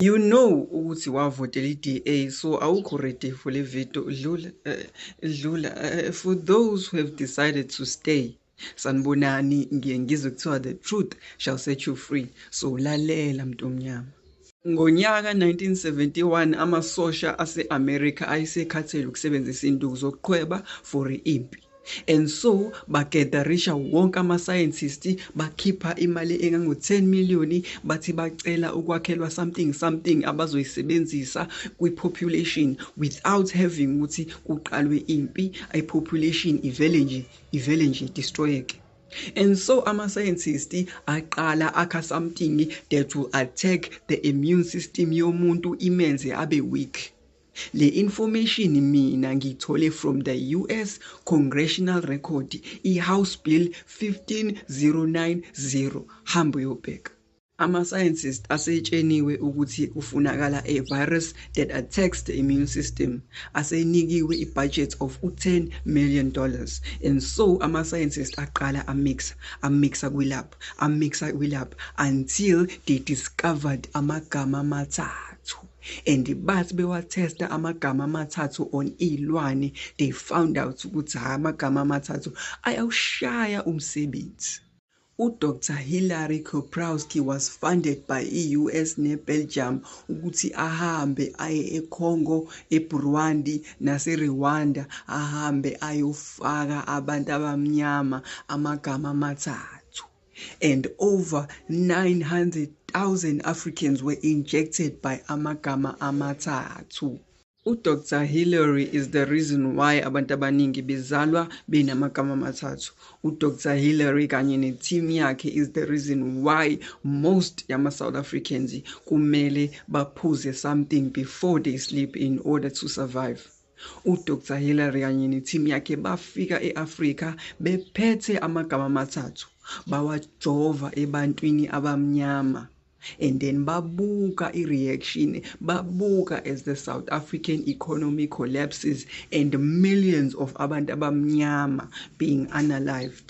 You know ukuthi wavotela i-DA so awukho ready for le video dlula eh, dlula eh, for those who have decided to stay sanibonani ngiye ngizwe kuthiwa the truth shall set you free so lalela mntu omnyama Ngonyaka 1971 amasosha ase-Amerika ayesekhathele ukusebenzisa induku zokuqhweba for impi. And so bagetarisha wonke ama-scientist bakhipha imali engango-10 million bathi bacela ukwakhelwa something something abazoyisebenzisa kwi-population without having ukuthi kuqalwe impi i-population ivele nje ivele nje destroyeke And so ama-scientist aqala akha something that will attack the immune system yomuntu imenze abe weak. Le information mina ngiyithole from the US Congressional Record iHouse Bill 15090 hambo yobheka. Ama-scientist asetsheniwe ukuthi kufunakala a virus that attacks the immune system asenikiwe i-budget of u-10 million dollars and so ama-scientist aqala amixa amixa kwilab amixa kwilab until they discovered amagama amathathu and bathi bewatesta amagama amathathu on iy'lwane they found out ukuthi hhayi amagama amathathu ayawushaya umsebenzi udr hillary koprowski was funded by i-us nebelgium ukuthi ahambe aye econgo eburundi naserwanda ahambe ayofaka abantu abamnyama amagama amathathu and over 900,000 Africans were injected by amagama amathathu. UDr Hillary is the reason why abantu abaningi bezalwa benamagama amathathu. UDr Hillary kanye neteam yakhe is the reason why most yama-South Africans kumele baphuze something before they sleep in order to survive. UDr Hillary kanye nethimu yakhe bafika e-Afrika bephethe amagama amathathu, bawajova ebantwini abamnyama and then babuka i-reaction babuka as the south african economy collapses and millions of abantu abamnyama being unalived